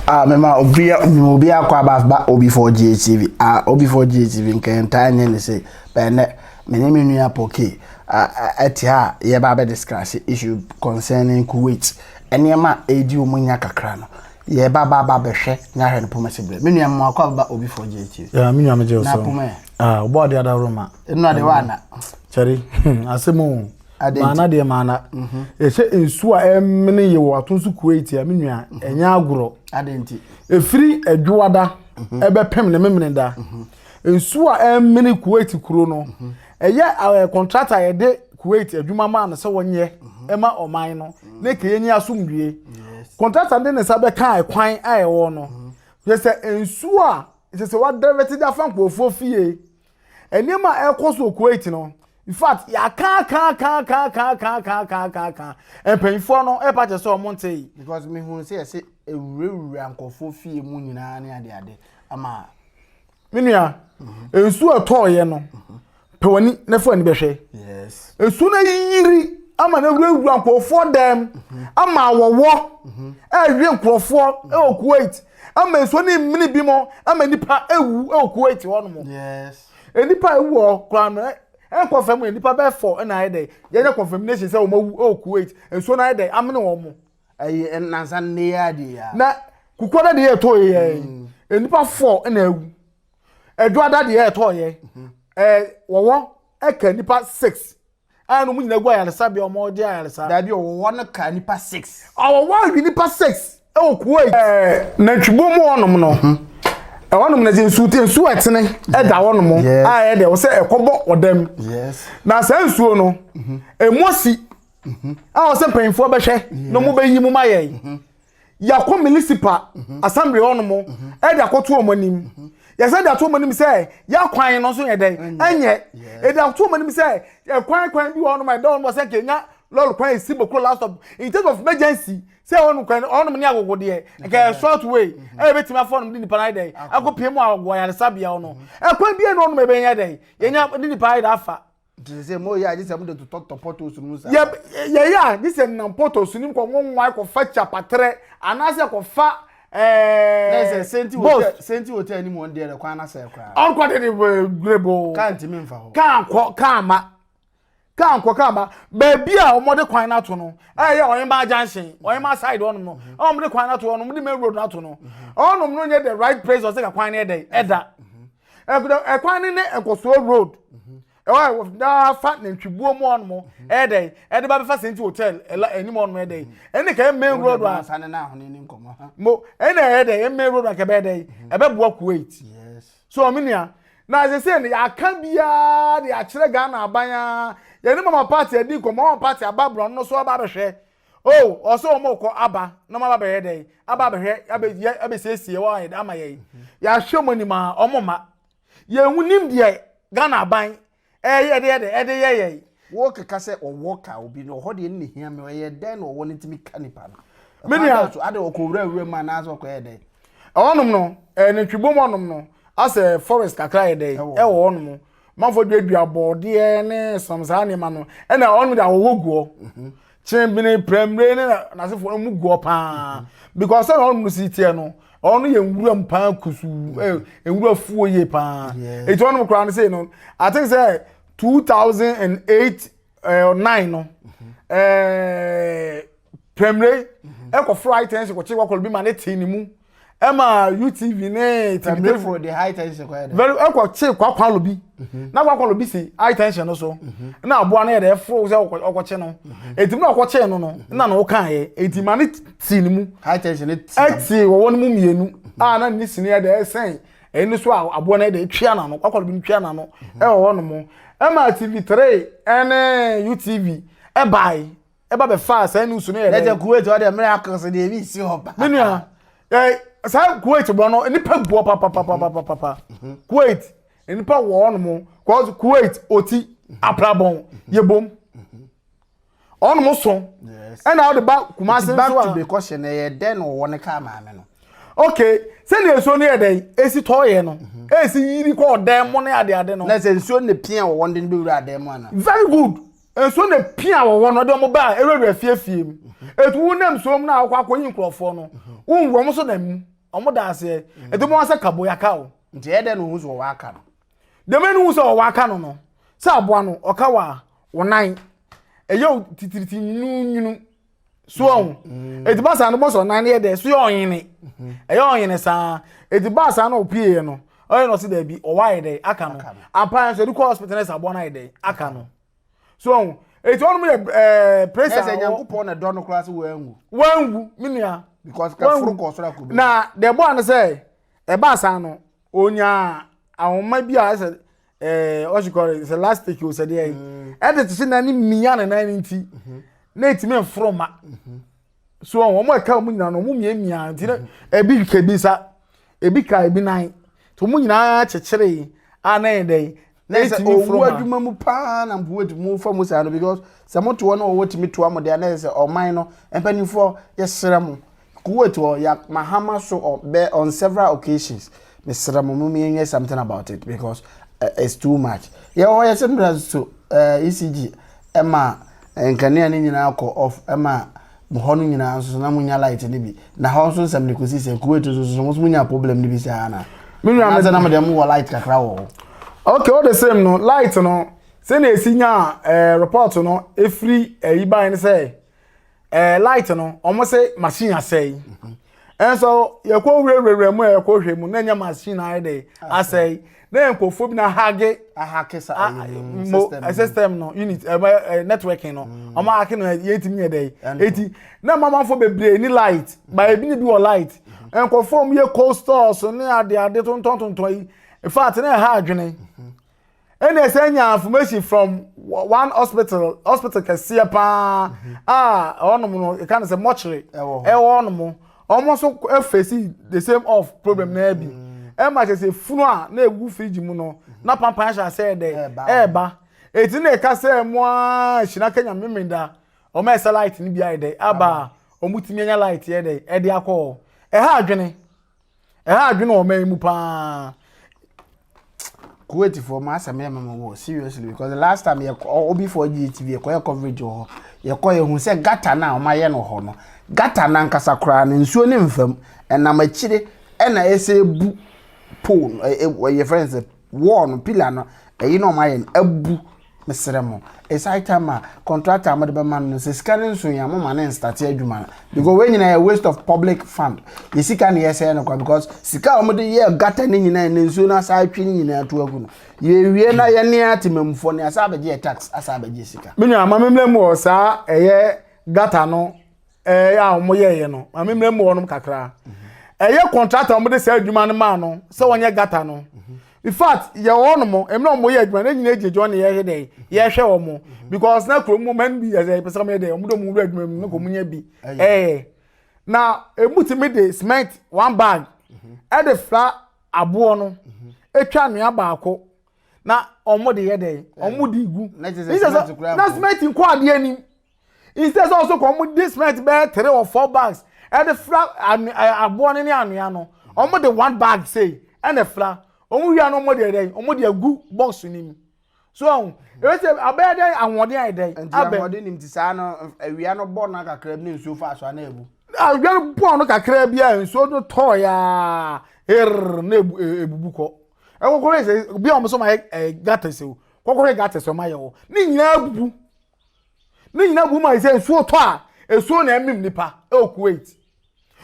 Ah, me ma obi me ma obi akɔ aba ba obi for GHTV. Ah, obi for GHTV nkan ta nye ne se. Bɛnɛ me ne me nua Poke ah ɛte ha yɛ ba bɛ discuss issue concerning Kuwait. Nneɛma a edi wɔn nya kakra no. Yɛ ba ba ba bɛhwɛ nya hwɛ no poma se bre. Me nua me akɔ aba ba obi for GHTV. Yeah, me nua me je so. Na poma. Ah, obo ade adawro ma. Eno ade wa na. Chari, asemu. Maana deɛ maana. Ɛhyɛ nsuo a ɛmene yɛ wɔ ato so Kuwait a me nua ɛnyɛ agorɔ. Ɛfiri Adwoada ɛbɛpem ne Memeneda. Nsuo a ɛmene Kuwait kuro no ɛyɛ kɔntrata a yɛde Kuwait adwuma maa no sɛ wɔnyɛ ɛma ɔman no ne kɛyɛ nyi asomdwie. Kɔntrata de ne nsa bɛka ɛkwan a ɛwɔ no. Yɛ sɛ nsuo a yɛ sɛ wadɛvɛte de afa nkurɔfoɔ fie. Nneɛma a ɛrekɔ so wɔ Kuwait no, in fact, yɛakaakaakaakaakaakaakaaka mpanyinfoɔ no ɛpa kyɛ sɛ wɔn nte yi. Because me hu sɛ yɛsɛ ewurawura nkɔfoɔ fie mu nyinaa ne ade ade ama. Me nua, mhm. nsuo ɛtɔɔyɛ no, mhm. pɛ w'ani na fa w'ani bɛhwɛ. Yes. Nsuo no ayiri ama no awurawura nkɔfoɔ dɛm, mhm. ama wɔwɔ ɛɛwe nkɔfoɔ ɛwɔ Kuwait. ama nsuo ne mmene bi mo ama nipa ewu ɛwɔ kuwait hɔ nom nipa ewu hɔ koraa no ɛnkɔ fam yɛ nipa bɛɛ fɔ ɛna ayɛ dɛ yɛnyɛ confirmation sɛ wɔn awu ɛwɔ kuwait nsuo no ayɛ dɛ amene wɔn mo. ɛyɛ nansa ne yɛ adeɛ ya. na kukuo no deɛ ɛtɔ yɛ yɛ nipa fɔ ɛna ewu ɛdwa da deɛ ɛtɔ yɛ ɛɛ wɔwɔ ɛka nipa six. a ɛna wɔn nyinaa gu ayaresabea a wɔde ayaresa. Daabi a wɔwɔ hɔ no ka nnipa six. A wɔwɔ hɔ awi nnipa six wɔ kurow yi. Ɛɛ nantwibɔ mu hɔnom no. Mhm. Ɛhɔnom no dze nsuo te nsuo a ɛtene ɛda mhm. hɔnom a ɛyɛ dɛ wɔsɛ ɛkɔbɔ ɔdam. Na saa nsuo no mhm. ɛmu asi a wɔsɛ mpanyinfoɔ bɛhwɛ na wɔn bɛyi mu ma yɛn. yɛakɔ municipal mhm. assembly hɔ nom mhm. ɛde akɔto wɔn anim mhm. yɛsɛ de ato wɔn anim sɛ yɛakwan no nso yɛ dɛn ɛnyɛ ɛde ato wɔn anim sɛ ɛkwan kwan bi wɔ hɔ nom a ɛda wɔn sɛ nkenya lɔri kwan esi bokuro last stop in terms of emergency sɛ wɔn kwan wɔn ne agogo deɛ nkɛ short way ɛyɛ bɛ tìmí afɔ wɔn de nipa ayɛ dɛ akɔ pii mu agogo ayaresabea wɔn ɛkwan bi yɛ no wɔn bɛ yɛ dɛ yɛnya de nipa ayɛ dɛ afa. Nti sɛ mo yɛ a, gye sɛ mo de totɔ totɔ pɔtɔs no mu saa. Yɛ yɛ yɛ a, gye sɛ nam pɔtɔs no mu kɔ nwanwa kɔ fa kyapatrɛ anaasɛ kɔ fa ɛɛ. Na sɛ senti hotel senti hotel ni mu wɔn deɛ kwan na sɛ koraa. Ɔnkɔ de de gurebo. Kaa ntumi nfa hɔ. Kaa nkɔ kaa ma. Kaa nkɔ kaa ma. Baabi a wɔn de kwan n'ato no ɛyɛ ɔyɛnba junction ɔyɛnba side ɔnom no ɛna wɔn de kwan n'ato ɔnom de main road n'ato no ɔnom no nyɛ the right place ɔsɛ ka kwan no yɛ dɛ ɛda. ɛkɔ ɛkwan no ne nkɔsoɔ road ɛwɔ a daa fa nantwibuo mu ɔnom ɛyɛ dɛ ɛde ba bɛfa senti hotel ɛla ɛnim ɔnom ɛyɛ dɛ ɛne kɛyɛ main road a mo ɛna ɛyɛ dɛ ɛyɛ main road a kɛbɛyɛ dɛ ɛbɛboa kuwait so ɔmo nua na sese no yɛaka biara de akyerɛ ghana aban a yɛne mama party adi nkɔmɔ mama party aba borɔno no so aba abɛhwɛ Oh, ɔsɛ wɔn rekɔ aba na wɔn aba bɛyɛ dɛ, aba abɛhwɛ, abɛ yɛ abɛsiesie wɔn ayɛ dɛ ama yɛn. Yɛahwɛ wɔn anim a, wɔn mma. Yɛn nim deɛ Ghana aban ɛyɛ ɛde yɛ dɛ ɛde yɛ yɛn. Wɔkeka sɛ ɔwɔ ka obi no, ɔhɔ deɛ no na ehia me, ɛyɛ dɛn na ɔwɔ no ntumi ka nipa no? Me nua. So ade ɔkɔ wura wura mu anaasɛ ɔkɔ yɛ dɛn? Ɛwɔ nom no, ɛɛ nantwibom hɔ nom no, asɛ forest kakra yɛ dɛn ɛwɔ hɔ nom. Manfoɔ duadua bɔɔdeɛ ne som saa nneɛma no ɛna wɔn de ahohɔ guɔ mhm. kyenbene prɛmire ne n'asefoɔ no mu guɔ paa mhm. because sɛ na wɔn si teɛ no wɔn yɛ nwura mu paa kusu mhm. eh, nwura fuo yie paa eti wɔn koraa no sei no i think sɛ two thousand and eight eh, nine no ɛɛ eh, prɛmire ɛkɔ flight ɛnso kɔkye wɔkɔlɔ bi ma ne te ne mu. ɛma utv ne tibitefo de high tension kɔ yɛ dɛ very ɛkɔ kye kwakwalo bi mhm. na kwakwalo bi si high tension no so mhm. na aboa no yɛ dɛ ɛforo sɛ ɔkɔ kye no eti mu na ɔkɔ kye no no mhm. na na ɔka yɛ eti ma ne ti ne mu high tension ɛti wɔwɔ ne mu mmienu a na ne sini yɛ dɛ ɛsɛn ɛni so a aboa no yɛ dɛ etwia na no kwakwalo bi no twia na no ɛwɔ hɔ nom ɛma tv three ɛne utv ɛbaae ɛba bɛfaa saa nusu no yɛ dɛ. ɛkyɛ kuwait ɔde mmerɛ akɔ so deɛ ebi nsi hɔ paa. me nua ɛɛ saa kuwait borɔ no nipa gu hɔ papapapapapa kuwait nipa wɔ hɔ nom cause kuwait oti aprabɔn yɛ bom ɔnom so ɛna ɔde ba kumase nso a. back to the question ɛyɛ dɛ na ɔwɔ ne kaa maame no. okay sɛdeɛ nsuo no yɛ dɛ esi tɔ yɛ no esi yiri kɔ ɔdan mu ne adeade no. na sɛ nsuo ne pia ɔwɔ no de no bɛ wura adan mu ana. very good. Nsuo na pia wɔ hɔ no ɔde wɔn baa awurawura fie fie mu. Etu wo nam nsuo mu na akɔ akɔyi nkurɔfoɔ no. Wonwu wɔn nso nam mu. Wɔn da aseɛ. Etu bɔ wɔn sɛ kabo yaka o. Nti ɛyɛ dɛ na ohun sɛ ɔwɔ aka no. Dɛmɛ no hu sɛ ɔwɔ aka no no sɛ aboa no ɔka wɔ a wɔnan ɛyɛ o titiriti nwunu nwunu. so ɔho ɛti ba saa no bɔ sɛ ɔnan no yɛ dɛ so yɛ ɔnyene ɛyɛ ɔnyene saa ɛti ba saa no ɔpieɛ no ɔyɛ no ɔse daabi ɔwɔ ayɛ dɛ aka no ampa nso ɛde kɔ hospital no sɛ aboa no ayɛ dɛ aka no so ɔho ɛti ɔnom yɛ ɛɛ presa ɛsɛ nyankopɔn na dɔ no koraa sɛ wɔanwu wɔanwu me nua because kaforo kɔ soro akɔbɛ na dɛ bɔ ano sɛ ɛba saa no ɔnyaa ahoma bi a ɛsɛ ɛɛ eh, what you call it sɛ elastic o sɛ deɛ yi mm. ɛde te sɛ nan ne mmea ne nan ne nti mhm. na etimi nforo ma mhm. so wɔn a ɛka wɔn nyinaa no wɔn mmea mmea nti na mhm. ebi ka ebi nsa ebi ka ebi nan to wɔn nyinaa kyekyere a na yɛ dɛ na etimi nforo ma. owu adwuma mu paa na mpo etimi nfa mu saa no because sɛ mo to wɔn na wɔwɔ timi to wɔn deɛ na yɛ sɛ ɔman no mpanimfoɔ yɛ srɛ mo Kuwait wɔ Yak Mahama so on bɛ on several occasions mesrɛ mo mo yɛn nyɛ something about it because uh, it's too much yɛ hɔ yɛ sometimes so uh, ECG ɛma eh, nkanea ne nyinaa kɔ off ɛma hɔ no nyinaa nso na mo nya light ne bi na hɔ nso nsɛm ne kɔsi sɛ Kuwait nso so mo nya problem ne bi sɛ ana me nua me sɛ na mo deɛ mo wɔ light kakra wɔ hɔ okay all the same no light no sɛnea ɛsi nya eh, report no ɛfiri ɛyi eh, ban no sɛ Eh, light no wɔn se machine asɛe nso yɛkɔ wurawura mu a yɛkɔ hwɛ mu na nyɛ machine ayɛ dɛ asɛe na yɛ nkurɔfoɔ bi na hage ahake sa ah, eh, mo eh, system no unit ɛmɛ networking no mm. wɔn ahake no yɛntumi yɛ dɛ eti na mamanfoɔ bebree ni light ba ebi ni bi wɔ light mm-hmm. nkurɔfoɔ mu yɛ cold stores ne ade ade tontɔn tontɔn yi in fact na ɛha adwene. Mm-hmm. Ɛna ɛsɛ nya information from one hospital hospital kɛseɛ paa mhm. a ɔnom no ɛka no sɛ mɔkyere ɛwɔ ɔnom wɔn nso ɛfɛsi the same of problem mhm. naa bi ɛma kyɛ sɛ funu a na ɛgu fridge mu no mhm. na pampan ahyɛ asɛ dɛ ɛɛba ɛti na ɛka sɛ mo a hyina kenya mmemme da wɔn a ɛsɛ light no bi ayɛ dɛ aba a wɔn tumi anya light yɛ dɛ ɛde akɔ ɛha adwene. Ɛha adwene wɔ ɔman yi mu paa. Kuwait for ma asɛm yɛ mama wɔ seriously because the last time yɛ obi for GTV yɛ kɔ yɛ coverage wɔ hɔ yɛ kɔ yɛ hu sɛ gata na wɔn ayɛ no hɔ no gata na nkasa koraa no nsuo ne nfam ɛnam akyire ɛna ɛsɛ ebu pole ɛyɛ friends wall no pillar no ɛyi na ɔmo ayɛ no abu mesrɛ mo it's high time a contractor a mode bɛma no sɛ sika no nso yɛ mo ma ne nstate adwuma no because wei nyinaa yɛ waste of public fund yɛ sika ne yɛsɛɛ no kwa because sika a wɔde yɛ gata ne nyinaa ne nsuo no asa atwe ne nyinaa to agu no yɛwie na yɛne atemamfoɔ ne asa abɛgye yɛ tax asa abɛgye sika me nua ma memmerɛ mu wɔ saa ɛyɛ gata no ɛɛ eh, a wɔn yɛɛyɛ no maame mmerɛ mu wɔnom kakra ɛyɛ mhm. kɔntrata wɔn de saa adwuma no maa no sɛ wɔn yɛ gata no mhm. in fact yɛ wɔn nom ɛmuna wɔn yɛ adwuma no nyinaa gyina gyina wɔn yɛ yɛ dɛ yɛhwɛ wɔn mhm. because na kurom mu mɛn bi yɛ sɛ pɛsɛ wɔn yɛ dɛ wɔn de wɔn wura adwuma mu na wɔn nyɛ bi ɛɛ eh. na emu ti mi de cement one bag ɛde fila aboɔ no etwa nua baako na wɔn de yɛ dɛ wɔn de gu na cement nkɔ adeɛ nim. instead sɛ ɔsɛ kɔ ɔmo de cement bɛyɛ three or four bags ɛde fira aboɔ no ne anwea no ɔmo de one bag sei ɛna fira ɔmo wia no ɔmo de ɛdɛn ɔmo de agu box no mu so ɔmo ɛsɛ abɛyɛ dɛn ahoɔden ayɛ dɛn nti ahoɔden nim ti saa no awia no bɔ no kakra bi ne nsuo fa so ana ebu awia no bɔ no kakra bi a nsuo no tɔɔ ya err na ebu ebubu kɔ ɛkɔkɔ yɛ sɛ bi a ɔmo so ma yɛ ɛɛ gata sɛ o kɔkɔ yɛ gata sɛ ɔmo ayɛ o ne nyinaa ebubu. Ne nyinaa gu mu a sɛ nsuo tɔ a, nsuo na ɛmem nipa ɛwɔ Kuwait.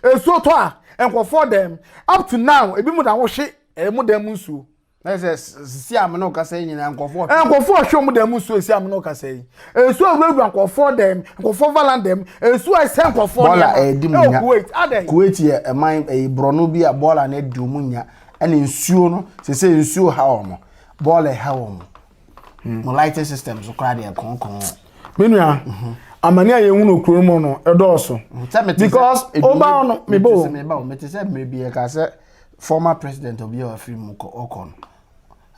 Nsuo tɔ a, nkurɔfoɔ dɛm. Up to now, ebi mu na wɔhwe ɛmu dan mu nsuo. Na sɛ sisi a mene ɔkasa yi nyinaa nkurɔfoɔ hwe. Nkurɔfoɔ ɔhwe wɔn dan mu nsuo esi a mene ɔkasa yi. Nsuo awurawura nkurɔfoɔ dɛm, nkurɔfoɔ valan dɛm, nsuo a ɛsɛ nkurɔfoɔ nneɛma ɛwɔ Kuwait. Adɛn? Kuwait yɛ ɛman ɛyɛ borɔno bi a bɔɔla na ɛdi wɔn nya ɛna nsuo no sese nsuo ha wɔn, bɔɔla ɛha wɔn, Hmm. Mo lighting system so koraa deɛ kɔnkɔn. Me nua, mhm. amane a yɛhu no kuro mu no ɛdɔɔso. Mm, because ɔbaa no mebɔ o. Meba o, mete sɛ mmerɛ bi ɛka sɛ former president obi a wafiri mu ɔkɔ no.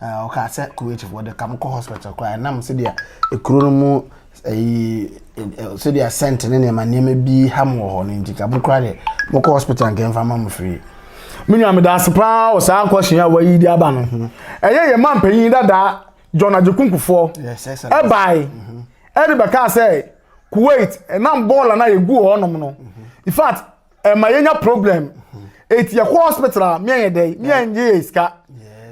Ɔka sɛ Kuwaitfoɔ de ka mo kɔ hospital koraa ɛnam sɛdeɛ ekuro no mu Eyi eh, sɛdeɛ scent ne nneɛma nneɛma bi ha mo wɔ hɔ no nti ka mo kora deɛ mokɔ hospital nka mfa ma mo free menua meda ase paa wɔ saa nkɔhyee a wayi de aba no ɛyɛ yɛ ma mpanyin dadaa john agyekunkufoɔ ɛbae ɛde bɛkaa sɛ kuwait ɛnam bɔɔla no a yɛgu hɔ nom no in fact ɛma yɛnya problem eti yɛkɔ hospital a mmea yɛ dɛ mmea nye yɛ sika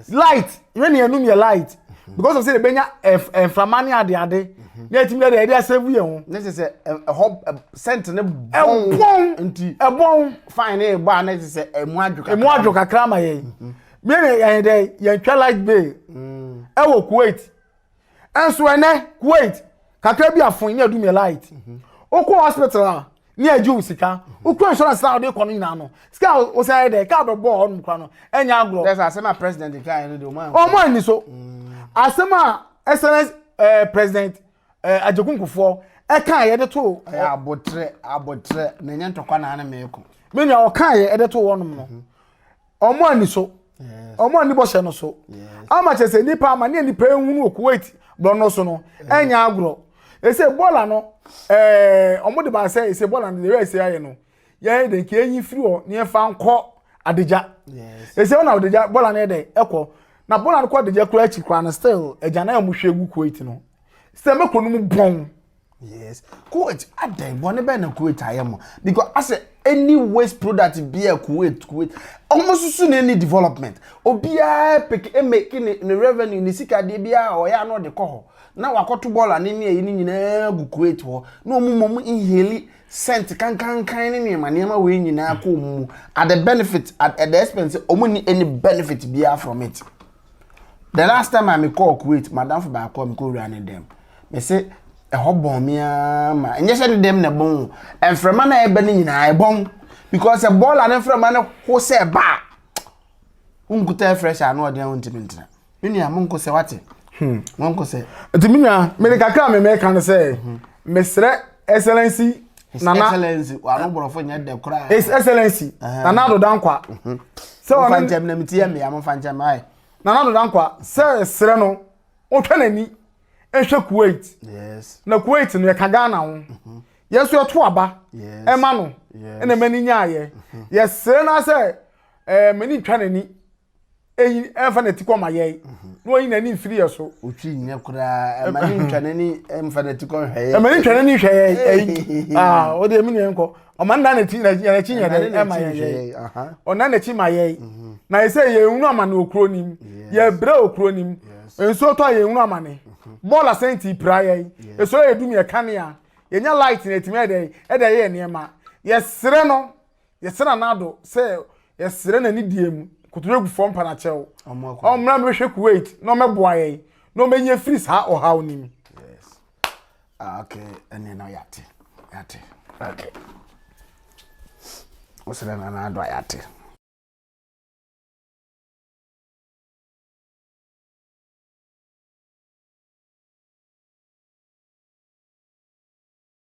light yɛn ni yɛnum yɛ light mhm. because of say yɛbɛnya mframa ne ade ade mhm. na yɛtumi yɛ dɛ yɛde asɛvu yɛn ho. ne te sɛ ɛhɔ sɛnt ne bɔn ɛbɔn nti ɛbɔn fine ne bɔ a ne te sɛ ɛmu adwo kakra ɛmu adwo kakra ma yɛn mmea yɛn dɛ yɛn twɛ light bay mm. ɛwɔ kuwait. Ɛnso ɛnɛ Kuwait kakra bi afon ne adum yɛ light. Mhm. Okɔ hospital a ne agye wo sika. Mhm. Okɔ insurance na ɔde kɔ no nyinaa no. Sika o sɛ yɛ dɛ ka bɛbɔ hɔ nom kora no. Ɛnyɛ agorɔ. That's asɛm a president ka yɛ no de ɔmo. Ɔmo ani so. Mm. Asɛm a excellence eh, president eh, Ajekunkufoɔ ɛka yɛ de to. Ɛyɛ abotrɛ abotrɛ na ɛnyɛ ntɔkwa na ano mɛko. Menu a ɔka yɛ de to wɔnom no. Mhm. ɔmo ani so ɔmo ani bɔhyɛ no so ama kyɛ sɛ nipa ama ne nipa ehunu wɔ kuwait bɔnɔ so no ɛnyɛ agorɔ ese bɔɔla no ɛɛ ɔmo de ba sɛ ese bɔɔla no de yɛ ese ayɛ no yɛyɛ de nka enyi firi hɔ ne yɛfa nkɔ adegya ese ɔna adegya bɔɔla no yɛ dɛ ɛkɔ na bɔɔla no kɔ adegya kura akyi kura no still ɛgya na yɛ mo hwɛ gu kuwait no sɛ mɛkɔ no mu bɔn. Yes. Kuwait, adɛn bɔne bɛn na Kuwait ayɛ mo? Because asɛ any waste product bi a Kuwait, Kuwait, wɔn susu na any development. Obiara peke emeke ne ne revenue ne sika deɛ biara a ɔyɛ ano ɔde kɔ hɔ. Na wakɔto bɔɔla ne ne ayi ne nyinaa gu Kuwait hɔ. Na wɔn ma wɔn inhale scent kankankan ne nneɛma nneɛma wei nyinaa kɔ wɔn mu. At the benefit, at, at the expense, wɔn ni any benefit biara from it. The last time a mekɔɔ Kuwait, madamfo baako a mekɔwuraa ne dɛm. Mese, ɛhɔ bɔn me ara ma. Ɛnyɛ sɛ ne dɛm na ɛbɔn o. Mframa no a ɛba no nyinaa ɛbɔn. Because sɛ bɔɔla ne mframa no ho sɛ ɛba a, wonkuta fresh a na ɔde a wontumi ntena. Me nua, monkɔ sɛ wate. Hmm, monkɔ sɛ. Nti me nua, mede kakra a memeka no sɛ, mesrɛ excellency His nana Excellency, wano borɔfo nyɛ dɛ koraa. his excellency Ɛhɛn. nana adoda nkwa sɛ Mofa ɔne nkyɛm na meti yɛ mmea, mofa nkyɛm ae. nana adoda nkwa sɛ ɛserɛ no ɔtwa n'ani nhwɛ kuwait Yes, na kuwait no yɛka ghana ho yɛn nso yɛto aba yes. ɛma no Yes. ɛna mani nyaayɛ yɛserɛ no sɛ eh, mani ntwa n'ani eyi ɛnfa na ti kɔ ma yɛn mhm. na wɔyi n'ani mfiri yɛ so. otwi nyɛ koraa ɛma ne ntwa n'ani ɛnfa na ti kɔ nhwɛ yɛ. ɛma ne ntwa n'ani nhwɛ yɛ ɛyi aa o de emi na yɛn kɔ ɔma nna n'akyi n'akyi nyɛ dɛ ɛma yɛ yɛ ɔna n'akyi ma yɛ mhm. na yɛ sɛ yɛ ehunu ama ne okuro nim yɛ brɛ okuro nim nsuo tɔ yɛ ehunu ama ne mhm. bɔɔl asɛnti pira yɛ esoro yɛ dum yɛ kanea yɛ nya light na etimi ɛdɛ ɛdɛ yɛ nneɛma yɛ srɛ no Yɛsera Nado sɛ yɛsrɛ n'ani deɛ mu nkotodwe gu fɔm panakyɛw. Ɔmmra mbɛhwɛ Kuwait na ɔmɛboa yɛn na ɔmɛnyi afiri saa ɔhaw no mu. Yes. Ah, okay. Ɛne no yɛate. Yɛate. Okay. Wosrɛ na Nado a yɛate.